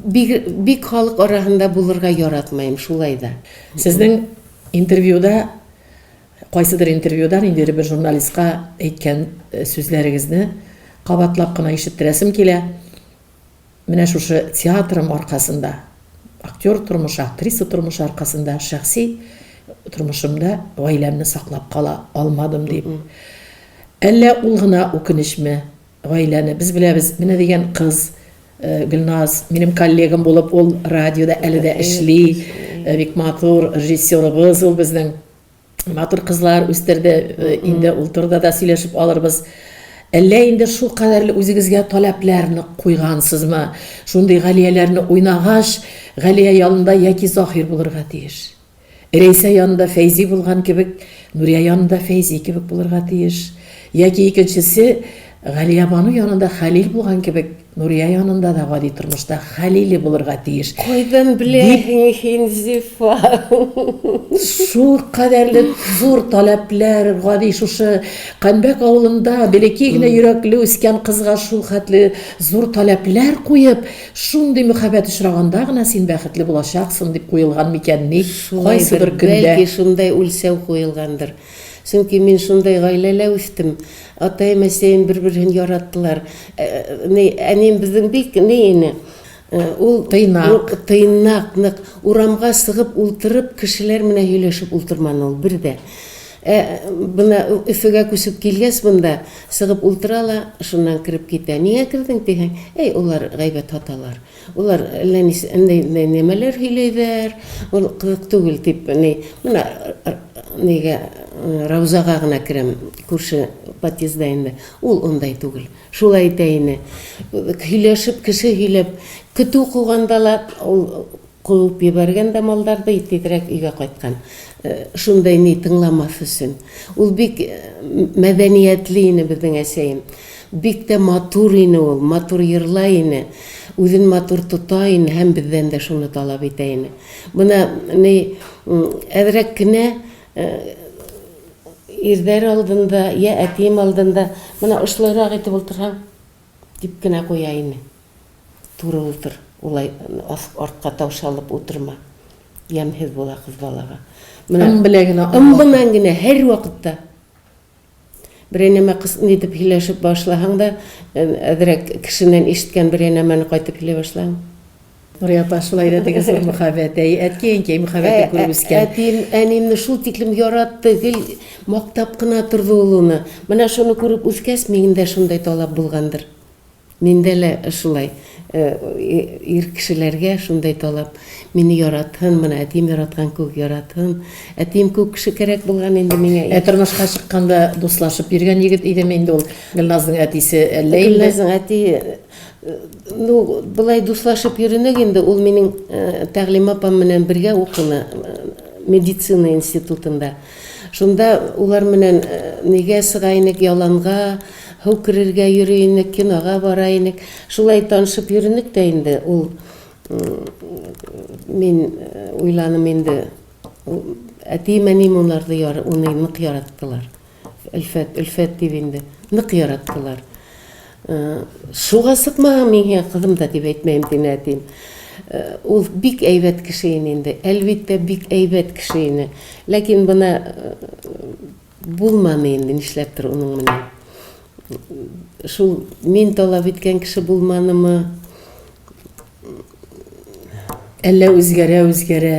бик, бик халык арасында булырга яратмыйм, шулай да. Сезнең интервьюда, кайсыдыр интервьюда, инде бер журналистка әйткән э, сүзләрегезне кабатлап кына ишеттерәсем килә. Менә шушы театрым аркасында, актер тормышы, актриса тормышы аркасында шәхси тормышымда гаиләмне саклап кала алмадым дип. Әллә ул гына үкенечме? Гаиләне без беләбез, менә дигән кыз, э, Гөлназ, минем коллегам булып, ул радиода әле дә эшли, э, бик матур режиссерыбыз ул безнең. матур кызлар үстерде. Э, инде ул турыда да сөйләшеп алырбыз. Әллә инде шул кадәрле үзегезгә таләпләрне куйгансызмы? Шундый Галияләрне уйнагач, Галия янында яки Заһир булырга тиеш. Рәйсә янында Фәйзи булган кебек, Нурия янында Фәйзи кебек булырга тиеш. Яки икенчесе Галиябану янында Хәлил булган кебек, Нурия янында да гади тормышта Хәлиле булырга тиеш. Кайдан беләһең һин, Зифа? Шул кадәрле зур таләпләр, гади шушы Канбәк авылында бәләкәй генә йөрәкле үскән кызга шул хәтле зур таләпләр куеп, шундый мөхәббәт очраганда гына син бәхетле булачаксың дип куелган микәнни кайсы бер көндә? Бәлки шундай үлчәү куелгандыр. Чөнки мин шундай гаиләлә үстем. Атаем, әсәем бер-берһен яраттылар. Ә, ни, әнием безнең бик ни ине. Ә, ул Тыйнак. Тыйнак, нык. Урамга сыгып ултырып, кешеләр менә һөйләшеп ултырманы ул бер дә. Ә, бына Өфөгә күчеп килгәч монда, сыгып ултыра ла, шуннан кереп китә. Нигә кердең дисәң, әй, алар гайбәт һаталар. Улар әллә нинди нәмәләр һөйләйләр, ул кызык түгел дип, әни, менә нигә, Раузага гына керәм, күрше подъездда инде, ул ундай түгел. Шулай итә ине. Һөйләшеп, кеше һөйләп, көтү куганда ла, ул куып ебәргән дә малларды, тизрәк өйгә кайткан. Шундай ни тыңламас өчен. Ул бик мәдәниятле ине безнең әсәем. Бик тә матур ине ул, матур йырлай ине, үзен матур тота ине һәм бездән дә шуны таләп итә ине. Менә ни, әзрәк кенә ирдәр алдында, йә әтием алдында менә ошлырак итеп ултырһаң, дип кенә куя ине. Туры ултыр, улай артка таушалып утырма, ямьһез була кыз балага. Менә ым белән генә, ым белән генә һәрвакытта. Берәй нәмә кыс нитеп һөйләшеп башлаһаң да, әзрәк кешеннән ишеткән берәй нәмәне кайтып һөйли башлаң. Нурия апа, шулай да теге зур мөхәббәт, әй, әти-әнкәй мөхәббәтен күреп үскән. Әтием, әниемне шул тиклем яратты, гел мактап кына торды ул уны. Менә шуны күреп үскәч, минем дә шундый талап булгандыр. Миндә лә шулай. Ир кешеләргә шундай талап. Мине яратһын, менә әтием яраткан кеүек яратһын. Әтием кеүек кеше кәрәк булган инде миңа. Ә тормышка чыкканда дуслашып йөргән егет идеме инде ул Гөлназның әтисе, әллә инде? Гөлназның әтие, ну, болай дуслашып йөренек инде, ул минем Тәгълим апам менән бергә укыны, медицина институтында. Шунда улар менән нигә сыга инек, яланга. Һыу керергә йөри инек, кинога бара инек. Шулай танышып йөренек тә инде ул мин уйланым инде әтием әнием унарды уны нык яраттылар өлфәт өлфәт дип инде нык яраттылар суга сыкмаган миңа кызым да дип әйтмәем дин әтием ул бик әйбәт кеше ине инде әлбиттә бик әйбәт кеше ине ләкин бына Булманы инде, нишләптер уның менән. Шул мин талап иткән кеше булманымы, әллә үзгәрә-үзгәрә,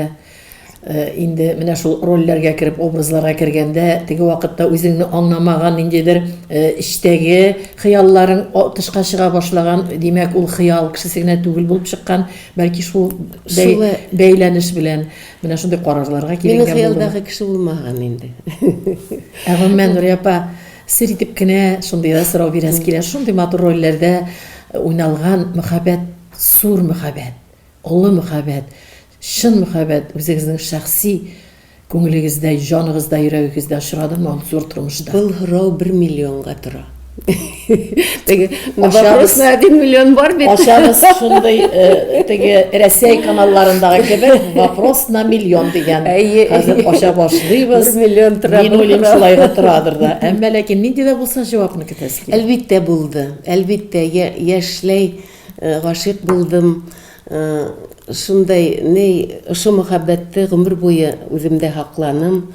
э, инде менә шул рольләргә кереп, образларга кергәндә, теге вакытта үзеңне аңламаган ниндидер э, эчтәге хыялларың о- тышка чыга башлаган, димәк, ул хыял кешесе генә түгел булып чыккан, бәлки шул бәй- Шулай. бәйләнеш белән. Менә шундый карарларга килгән булдым. Минем хыялдагы кеше булмаган инде. Ә гомумән Нурия апа сер итеп кенә шундый да сорау бирәс килә. Шундый матур рольләрдә уйналган мәхәббәт, зур мәхәббәт, олы мәхәббәт, чын мәхәббәт үзегезнең шәхси күңелегездә, җаныгызда, йөрәгегездә очрадымы ул зур тормышта? Был һорау бер миллионга тора. теге вопрос на один миллион бар бит ашабыз шундый э, теге рәсәй каналларындагы кебек вопрос на миллион дигән хәзер аша башлыйбыз миллион тора мин уйлыйм шулай да торадыр да әмма ләкин нинди дә булса җавапны көтәсе килә әлбиттә булды әлбиттә яшьләй э, гашыйк булдым э, шундай ни ошо мәхәббәтте гомер буе үземдә һакланым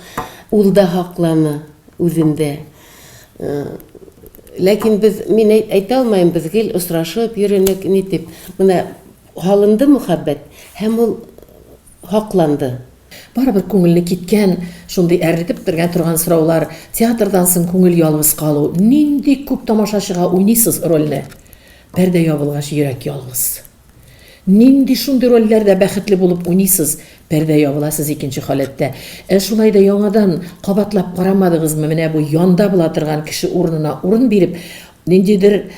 ул да һакланы үзендә Ләкин без, мин әйтә алмыйм, без гел очрашып йөренек, ни дип. Менә һалынды мөхәббәт һәм ул хакланды. Барыбер күңелне киткән, шундый әрнетеп бетергән торган сораулар, театрдан соң күңел ялгыз калу, нинди күп тамашачыга уйныйсыз рольне? Пәрдә ябылгач йөрәк ялгыз. Нинди шундый рольләрдә бәхетле булып уйныйсыз, пәрдә ябыла сез икенче халәттә. Ә шулай да яңадан кабатлап карамадыгызмы, менә бу янда була торган кеше урынына урын биреп, ниндидер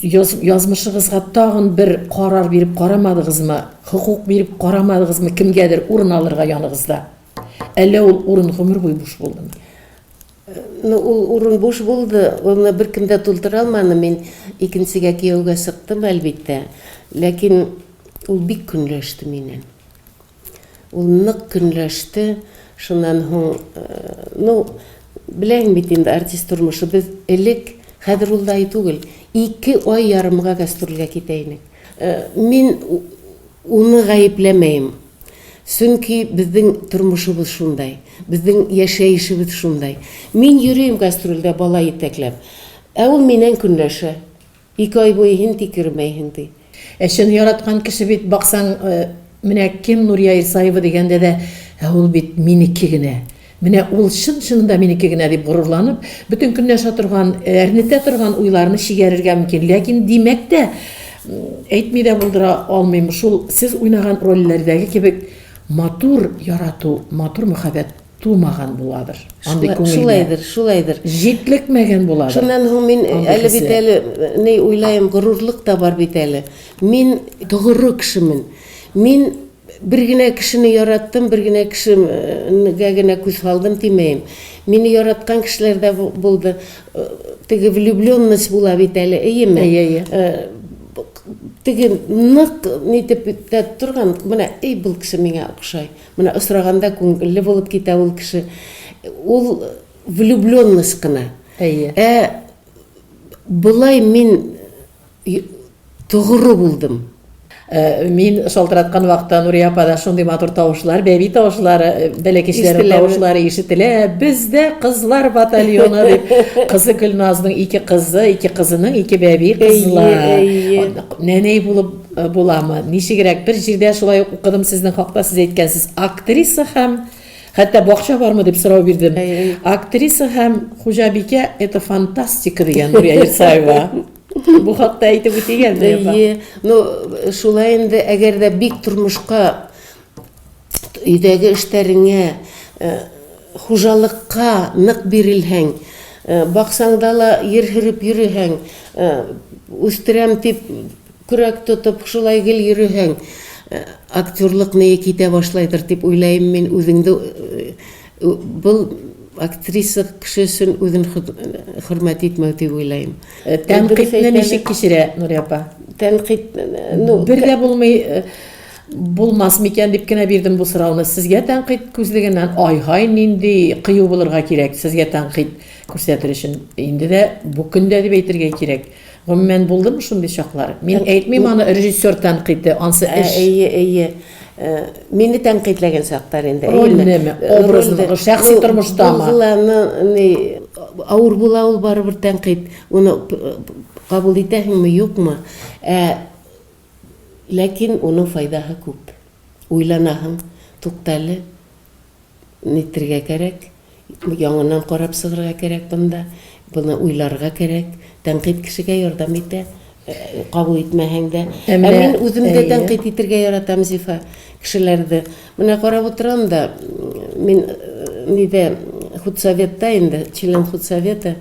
язмышыгызга тагын бер карар биреп карамадыгызмы, хокук биреп карамадыгызмы кемгәдер урын алырга яныгызда? Әллә ул урын гомер буе буш булдымы? Ну, ул урын буш булды, аны беркем дә тултыра алмады, мин икенчегә кияүгә чыктым, әлбиттә. Ләкин ул бик көнләште миннән. Ул нык көнләште, шуннан һуң, э, ну, беләйм бит инде артист тормышы, без элек, хәзер ул да түгел, ике ай ярымга гастрольгә китә идек. Э, мин Уны гаепләмәем. Сөнки безнең тормышыбыз шундай. Безнең яшәешебез шундай. Мин йөрим гастрольдә бала итәкләп. Ә ул миннән көнләшә. Ике ай буе һин тикермәйһең, ди. Ә чын яраткан кеше бит, баксаң, менә кем, Нурия Исаева дигәндә дә, Ә ул бит минеке генә. Менә ул чын-чынында минеке генә, дип горурланып, бөтен көнне яша торган, әрнетә торган уйларны чигәрергә мөмкин. Ләкин, димәк тә, әйтми дә булдыра алмыйм, шул сез уйнаган рольләрдәге кебек матур ярату, матур мәхәббәт тумаган буладыр андый күңелгә. Шулайдыр, шулайдыр. Җитлекмәгән буладыр. Шуннан һуң мин әле бит әле ни уйлаем, горурлык та бар бит әле. Мин тогыры кешемен. Мин Бер генә кешене яраттым, бер генә кешегә генә күз һалдым димәем. Мине яраткан кешеләр дә булды. Теге влюбленность була бит әле, эйеме? Әйе, әйе. Теге нык нитеп тә торган, менә эй бул кеше миңа охшай. Менә осраганда күңелле булып китә ул кеше. Ул влюбленность кына. Әйе. Ә болай мин Тугры булдым. Мин шалтыраткан вакытта Нурия апа да шундый матур тавышлар, бәби тавышлары, бәләкәчләр тавышлары ишетелә. Бездә кызлар батальоны дип кызы Гөлназның ике кызы, ике кызының ике бәби кызлар. Нәнәй булып буламы? Ничегрәк? Бер җирдә шулай ук укыдым сезнең хакта сез әйткәнсез. Актриса һәм Хәтта бакча бармы дип сорау бирдем. Актриса һәм хуҗабикә это фантастика дигән Нурия Ирсаева. Бу хакта әйтеп үтик әле. Әйе. Ну, шулай инде, әгәр дә бик тормышка өйдәге эшләреңә, э, хуҗалыкка нык бирелһәң, э, баксаң да ла ир һөреп йөрөһәң, э, үстерәм дип көрәк тотып шулай гел йөрөһәң, актерлык мие китә башлайдыр дип уйлайм мин үзеңне Был актриса кеше өчен үзен хөрмәт итмәү дип уйлыйм. Тәнкыйтьне ничек кичерә Нурия апа? Тәнкыйть, ну, бер дә булмый, булмас микән дип кенә бирдем бу сорауны. Сезгә тәнкыйть күзлегеннән, ай-һай, нинди кыю булырга кирәк сезгә тәнкыйть күрсәтер өчен. Инде дә бу көндә дип әйтергә кирәк. Гомумән, булдымы шундый чаклар? Мин әйтмим аны, режиссер тәнкыйте, ансы эш. Ә, әйе, әйе. Э, мине тәнкыйтьләгән чактар инде. Рольнеме, образныгы, шәхси ну, тормыштамы? Булганы, ни, авыр була ул барыбер тәнкыйть. Уны кабул итәһеңме, юкмы? Ә ләкин уның файдаһы күп. Уйланаһың, туктале, Нитергә кәрәк? Яңыннан карап чыгырга кәрәк бында. Буны уйларга кәрәк. Тәнкыйть кешегә ярдәм итә, кабул итмәһәң дә. Ә мин үзем дә тәнкыйть итергә яратам, Зифа, кешеләрде. Менә карап утырам да, мин нидә, худсоветта инде, член худсовета.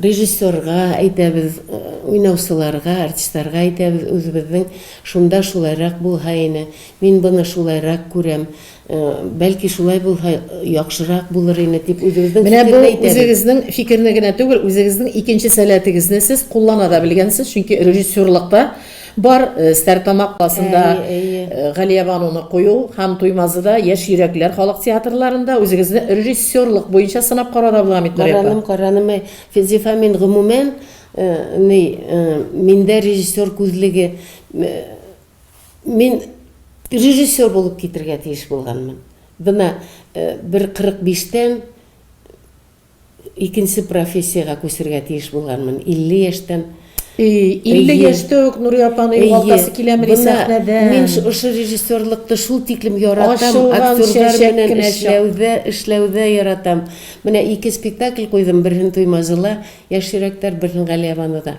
Режиссерга әйтәбез, уйнаучыларга, артистларга әйтәбез үзебезнең, шунда шулайрак булһа ине, мин буны шулайрак күрәм, Бәлки шулай булһа яхшырак булыр име дип үзебезнең фикерне әйтәбез. Менә бу үзегезнең фикерне генә түгел, үзегезнең икенче сәләтегезне сез куллана да белгәнсез, чөнки режиссерлыкта бар э, Стәртамак классында э, Галия Бануны кую һәм Туймазыда Яшь йөрәкләр халык театрларында үзегезне режиссерлык буенча сынап карарга була бит Нурия Караным, караным, Физифа мин гомумән, э, ни, э, миндә режиссер күзлеге Мин режиссер булып китергә тиеш булганмын. Бына э, бер 45 тән икенче профессиягә күчергә тиеш булганмын. 50 яшьтән 50 яшьтә үк Нури апаны югалтасы киләмени сәхнәдә? Мин ошо режиссерлыкты шул тиклем яратам, актерлар белән эшләүдә, эшләүдә яратам. Менә ике спектакль куйдым, берһен Туймазыла, яшь йөрәктәр, берһен Галиябануда.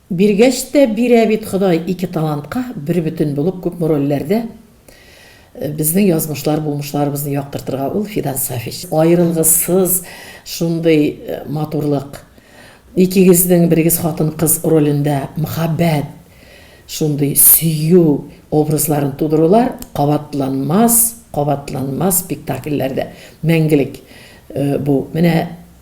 Биргәч тә бирә бит Ходай ике талантка бербөтен булып күпме рольләрдә безнең язмышлар, булмышларыбызны яктыртырга ул Фидан Сафич. Аерылгысыз шундый матурлык, икегезнең берегез хатын-кыз ролендә мөхәббәт, шундый сөю образларын тудырулар кабатланмас, кабатланмас спектакльләрдә мәңгелек бу. Менә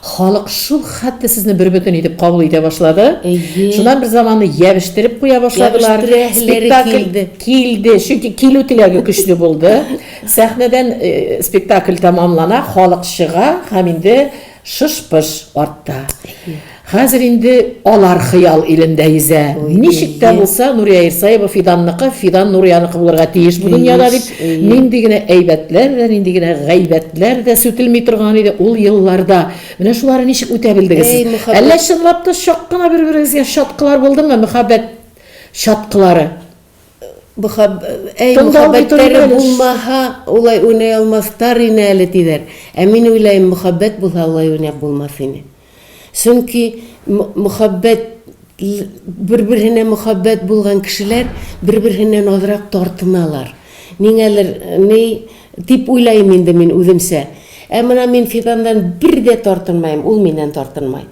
Халык шул хәтле сезне бербөтен итеп кабул итә башлады. Әйе. Шуннан бер заманны ябештереп куя башладылар. Ябештерәһеләре Спектакль килде. килде, чөнки килү теләге көчле булды. Сәхнәдән э, спектакль тәмамлана, халык чыга һәм инде шыш-пыш артта. Хәзер инде алар хыял илендә йөзә. Ой, Ничек тә әйе. булса Нурия Ирсаева Фиданныкы, Фидан Нурияныкы булырга тиеш бу дөньяда дип Нинди генә әйбәтләр дә, нинди генә гайбәтләр дә сүтелми торган иде ул елларда. Менә шуларны ничек үтә белдегез? Әллә чынлап та чак кына бер-берегезгә чаткылар булдымы, мөхәббәт чаткылары? Мөхәб... Әй, мөхәббәтләре булмаһа, улай уйный алмастар ине әле, диләр. Ә мин уйлаем, мөхәббәт булһа, улай уйнап булмас ине. Чөнки мөхәббәт бер-берсенә мөхәббәт булган кешеләр бер-берсеннән азрак тартыналар. Нигәдер ни дип уйлыйм инде мин үземчә. Ә менә мин Фидандан бер дә тартынмыйм, ул миннән тартынмый.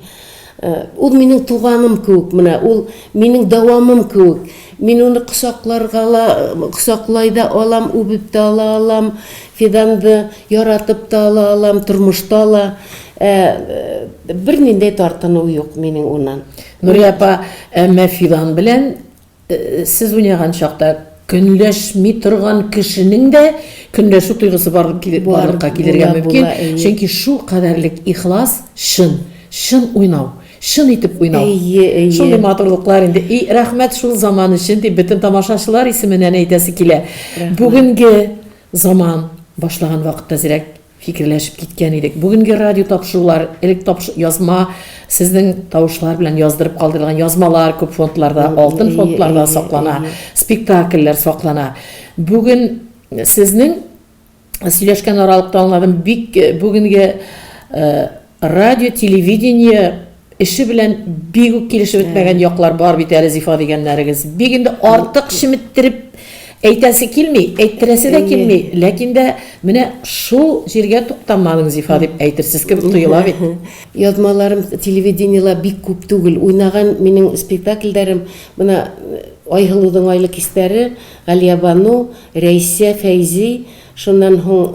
Ул минем туганым кебек менә, ул минем дәвамым кебек. Мин аны кочакларга ла, кочаклай да алам, үбеп тә ала алам. Фиданды яратып та ала алам, тормышта ла ә бернинди тартыну юк минең уннан. Нурия апа, әмма Фидан белән сез уйнаган чакта көнләшми торган кешенең дә көнләшү тойгысы барлыкка килергә мөмкин, чөнки шул кадәрлек ихлас, чын, чын уйнау, чын итеп уйнау. Шундый матурлыклар инде. И, рәхмәт шул заман өчен, дип бөтен тамашачылар исеменнән әйтәсе килә. Бүгенге Заман, башлаган вакытта зирәк фикерләшеп киткән идек. Бүгенге радио тапшырулар, элек тапш, язма, сезнең тавышлар белән яздырып калдырылган язмалар күп фондларда, алтын фондларда саклана, спектакльләр саклана. Бүген сезнең сөйләшкән аралыкта аңладым, бик бүгенге Радио-телевидение эше белән бик үк килешеп бетмәгән яклар бар бит әле, Зифа дигәннәрегез. Бик инде артык чеметтереп әйтәсе килми, әйттерәсе дә килми, ләкин дә менә шул җиргә туктамадың, Зифа, дип әйтерсез кебек тоела бит. Язмаларым телевидениела бик күп түгел. Уйнаган минем спектакльләрем менә Айһылудың айлы кистәре, Галиябану, Рәйсә, Фәйзи, шуннан һуң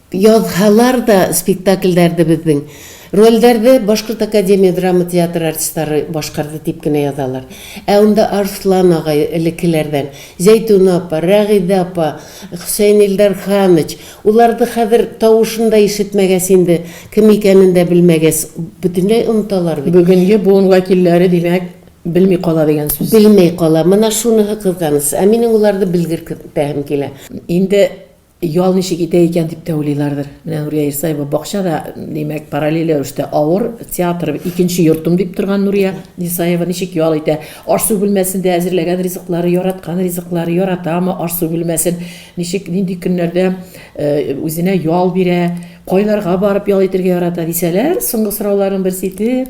Язһалар да спектакльләрне безнең рольләрне Башкорт академия драма театры артистлары башкарды дип кенә язалар. Ә унда Арслан агай, элеккеләрдән, Зәйтүнә апа, Рәгыйдә апа, Хөсәен Илдар ханыч, уларны хәзер тавышын да ишетмәгәс инде, кем икәнен дә белмәгәс, бөтенләй оныталар бит. Бүгенге буын вәкилләре, димәк, белми кала дигән сүз. Белми кала. Менә шуныһы кызганыч. Ә минем уларны белгертәһем килә. Инде Ял ничек итә икән дип тә уйлыйлардыр. Менә Нурия Исаева бакча да, димәк, параллель рәвештә авыр, театр, икенче йортым дип торган Нурия Исаева ничек ял итә? Аш-су бүлмәсендә әзерләгән ризыклары, яраткан ризыклары, яратамы аш-су бүлмәсен? Ничек, нинди көннәрдә үзенә ял бирә? Кайларга барып ял итергә ярата? дисәләр, соңгы сорауларның берсе итеп,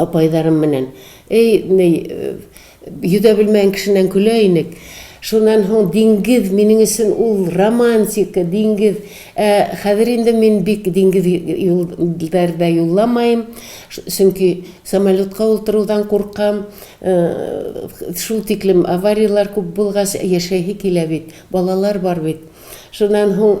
апайларым менән. Эй, ни, йөдәп белмәгән кешеннән көлә инек. Шуннан һоң диңгез минең өчен ул романтика, диңгез. Ә хәзер инде мин бик диңгез юлларда юлламаем, чөнки самолетка утырудан куркам. Шул тиклем аварияләр күп булгач, яшәһе килә бит, балалар бар бит. Шуннан һоң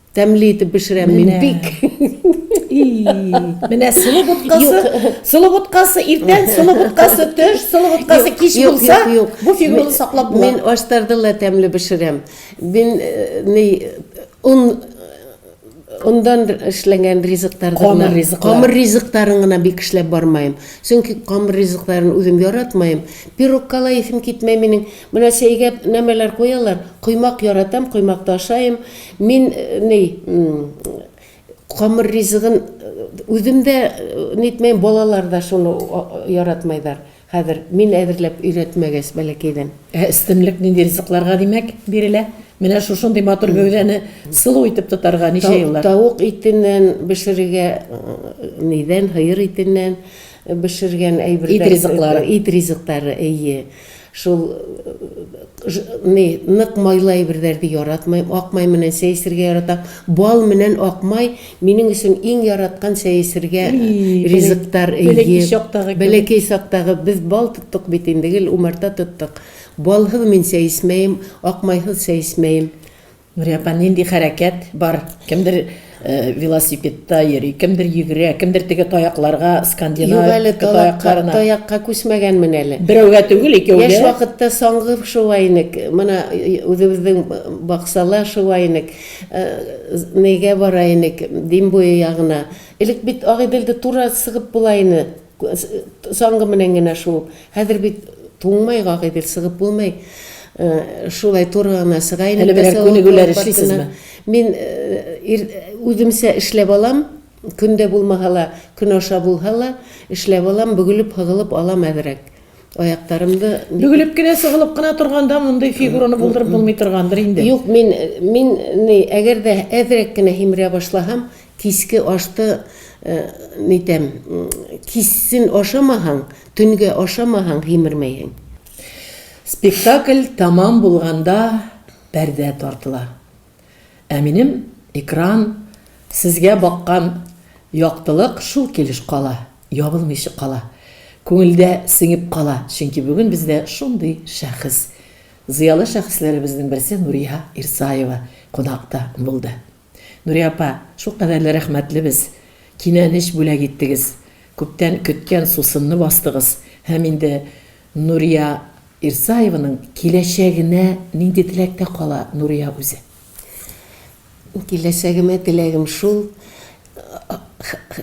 Тәмле итеп пешерәм мин бик. Менә сылы боткасы, сылы боткасы иртән, сылы боткасы төш, сылы боткасы кич булса, бу фигураны саклап була. Мин аштарды ла тәмле пешерәм. Мин э, ни он ондан эшләнгән ризыктар камыр ризык камыр ризыктарын гына бик эшләп бармыйм чөнки камыр ризыкларын үзем яратмыйм пирогка ла исем китмәй минем менә чәйгә нәмәләр куялар коймак яратам коймакта ашыйм Мин ни камыр ризыгын үзем дә нитмәйм, балалар да шуны яратмайдар. Хәзер мин әзерләп өйрәтмәгәч бәләкәйдән. Ә өстенлек нинди ризыкларга, димәк, бирелә? Менә шушындый матур гәүдәне сылу итеп тотарга ничә еллар? Тавык итеннән бешерергә, нидән, һыер итеннән бешергән әйберләр. Ит ризыклары. Ит ризыклары, әйе. Шул ни, нык майлы әйберләрне яратмыйм. Ак май менән чәй эчәргә яратам. Бал менән ак май минем өчен иң яраткан чәй эчәргә ризыктар. Бәләкәй чактагы. Бәләкәй чактагы. Без бал тоттык бит инде, гел умарта тоттык. Балсыз мин чәй эчмәем, ак майсыз чәй эчмәем. Нурия апа, нинди хәрәкәт бар? Кемдер велосипедта йөри, кемдер йөгерә, кемдер теге таякларга, скандинав Юк әле, таякларына. Таякка күчмәгәнмен әле. Берәүгә түгел, икәүгә. Яшь вакытта саңгыр шулай инек. Менә үзебезнең баксала шулай инек. Нигә бара инек? Дим буе ягына. Элек бит Агыйделдә туры сыгып була ине. Соңгы менән генә шул. Хәзер бит туңмай гагыйдел, сыгып булмый. Шулай туры гына сыга инде. Әле берәр күнегүләр эшлисезме? Мин үземчә эшләп алам. Көн дә булмаса ла, көн аша булса ла, эшләп алам, бөгелеп-һыгылып алам әзрәк. Аяктарымны. Бөгелеп кенә, сыгылып кына торганда мондый фигураны булдырып булмый торгандыр инде. Юк, мин, мин, әгәр дә әзрәк кенә һимерә башласам, Кичке ашта нитәм, кичсен ашамаһаң, төнгә ашамаһаң, һимермәйһең. Спектакль тәмам булганда пәрдә тартыла. Ә минем экран, сезгә баккан яктылык шул килеш кала, ябылмыйча кала. Күңелдә сеңеп кала, чөнки бүген бездә шундый шәхес, зыялы шәхесләребезнең берсе Нурия Ирсаева кунакта булды. Нурия апа, шулкадәр дә рәхмәтлебез, кинәнеч бүләк иттегез, күптән көткән сусынны бастыгыз һәм инде Нурия Ирсаеваның киләчәгенә нинди теләктә кала Нурия үзе? Киләчәгемә теләгем шул,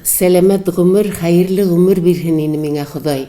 сәламәт гомер, хәерле гомер бирһен ине миңа Ходай.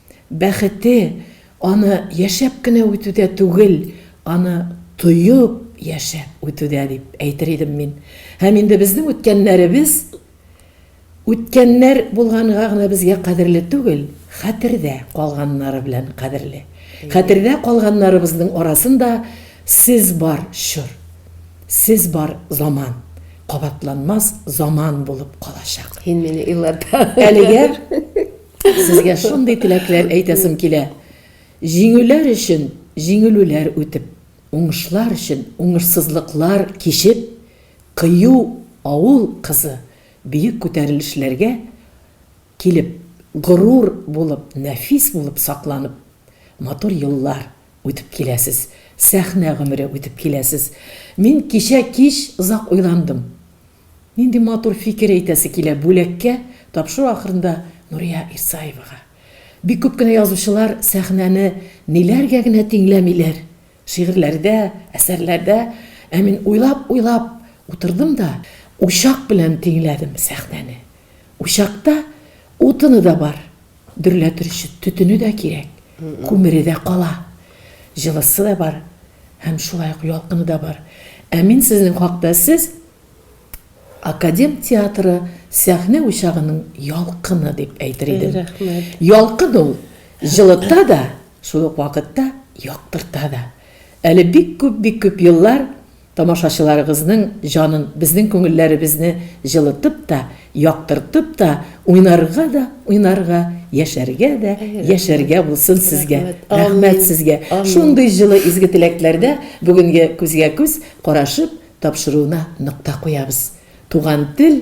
Бәхете, аны яшәп кенә үтүдә түгел, аны тоеп яшәп үтүдә, дип әйтер идем мин. Һәм инде безнең үткәннәребез үткәннәр булганга гына безгә кадерле түгел, хәтердә калганнары белән кадерле. Хәтердә калганнарыбызның арасында сез бар, чор. Сез бар, заман. Кабатланмас заман булып калачак. Һин мине елата. Әлегә Сезгә шундый теләкләр әйтәсем килә. Җиңүләр өчен җиңелүләр үтеп, уңышлар өчен уңышсызлыклар кичеп, кыю авыл кызы биек күтәрелешләргә килеп, горур булып, нәфис булып сакланып, матур еллар үтеп киләсез, сәхнә гомере үтеп киләсез. Мин кичә кич озак уйландым. Нинди матур фикер әйтәсе килә Бүләккә тапшыру ахырында Нурия Ирсаевага. Бик күп кенә язучылар сәхнәне ниләргә генә тиңләмиләр, шигырьләрдә, әсәрләрдә, ә мин уйлап-уйлап утырдым да, учак белән тиңләдем сәхнәне. Учакта утыны да бар. дөрләтер өчен төтене дә кирәк, күмере дә кала, җылысы да бар һәм шулай ук ялкыны да бар. Ә мин сезнең хакта сез, Академ театры сәхнә учагының ялкыны дип әйтер идем. Рәхмәт. Ялкын ул җылыта да, шул ук вакытта яктырта да. Әле бик күп, бик күп еллар Тамашачыларыгызның җанын, безнең күңелләребезне җылытып та, яктыртып та, уйнарга да уйнарга, яшәргә дә яшәргә булсын сезгә! Рәхмәт сезгә, шундый җылы изге теләкләрдә бүгенге күзгә-күз карашып тапшыруны нокта куябыз. Туган тел